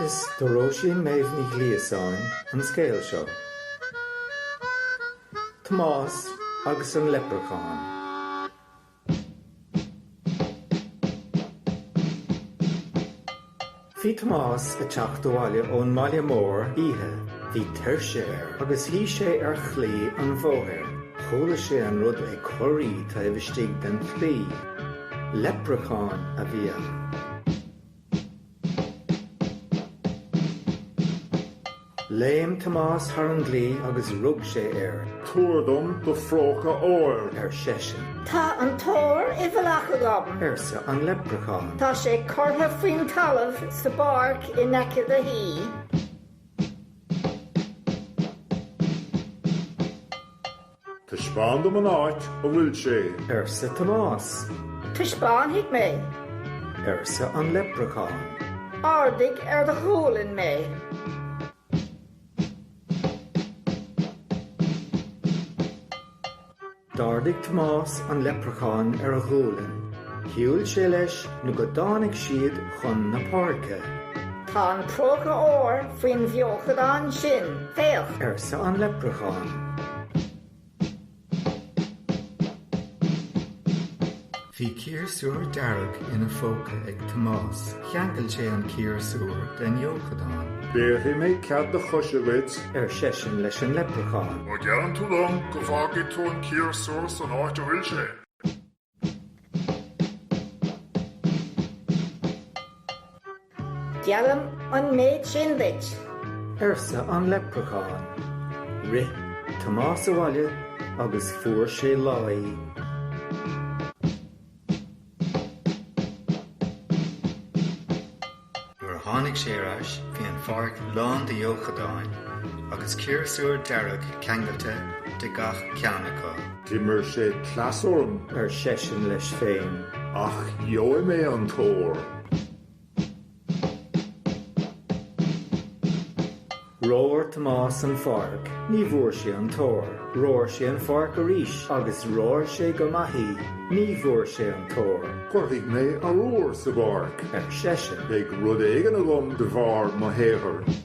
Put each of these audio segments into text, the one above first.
Is do Róisín Méabh Ní Ghliasáin an scéal seo. Tomás agus an Leipreachán. Bhí Tomás ag teacht abhaile ón mbaile mór oíche. Bhí tuirse air agus shuigh sé ar chlaí an bhóthair. Chuala sé an rud ag corraí taobh istigh den chlaí. Leipreachán a bhí ann. Léim Tomás thar an gclaí agus rug sé air. Tabhair dom do phróca óir! ar seisean. Tá an t-ór i bhfolach agam! arsa an leipreachán. Tá sé curtha faoin talamh sa bpáirc in aice do thí. Taispeáin dom an áit a bhfuil sé. arsa Tomás. Taispeánfaidh mé. arsa an leipreachán. Ardaigh ar do ghualainn mé. D'ardaigh Tomás an leipreachán ar a ghualainn. Shiúil sé leis nó go dtáinig siad chun na páirce. Tá an próca óir faoin bhfeochadán sin, féach! arsa an leipreachán. Bhí ciarsúr dearg ina phóca ag Tomás. Cheangail sé an ciarsúr den fheochadán. Bhéarfaidh mé cead do choise dhuit! ar seisean leis an leipreachán. Má gheallann tú dom go bhfágfaidh tú an ciarsúr san áit a bhfuil sé! Geallaim an méid sin duit. arsa an leipreachán. Rith Tomás abhaile agus fuair sé láí. Nuair a tháinig sé ar ais bhí an pháirc lán de fheochadáin agus ciarsúr dearg ceangailte de gach ceann acu. D'imir sé cleas orm, ar seisean leis féin, ach gheobhaidh mé an t-ór. Rómhair Tomás an pháirc, ní bhfuair sé an t-ór. Rómhair sé an pháirc arís agus rómhair sé go maith í. Ní bhfuair sé an t-ór. Cuirfidh mé arbhar sa bpáirc, ar seisean, beidh rud éigin agam de bharr mo shaothair.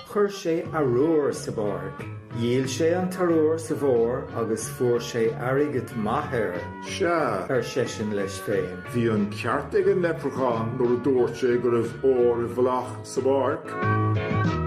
Chuir sé arbhar sa bpáirc. Dhíol sé an t-arbhar sa bhfómhar agus fuair sé airgead maith air. Sea, ar seisean leis féin. Bhí an ceart ag an leipreachán nuair a dúirt sé go raibh ór i bhfolach sa bpáirc.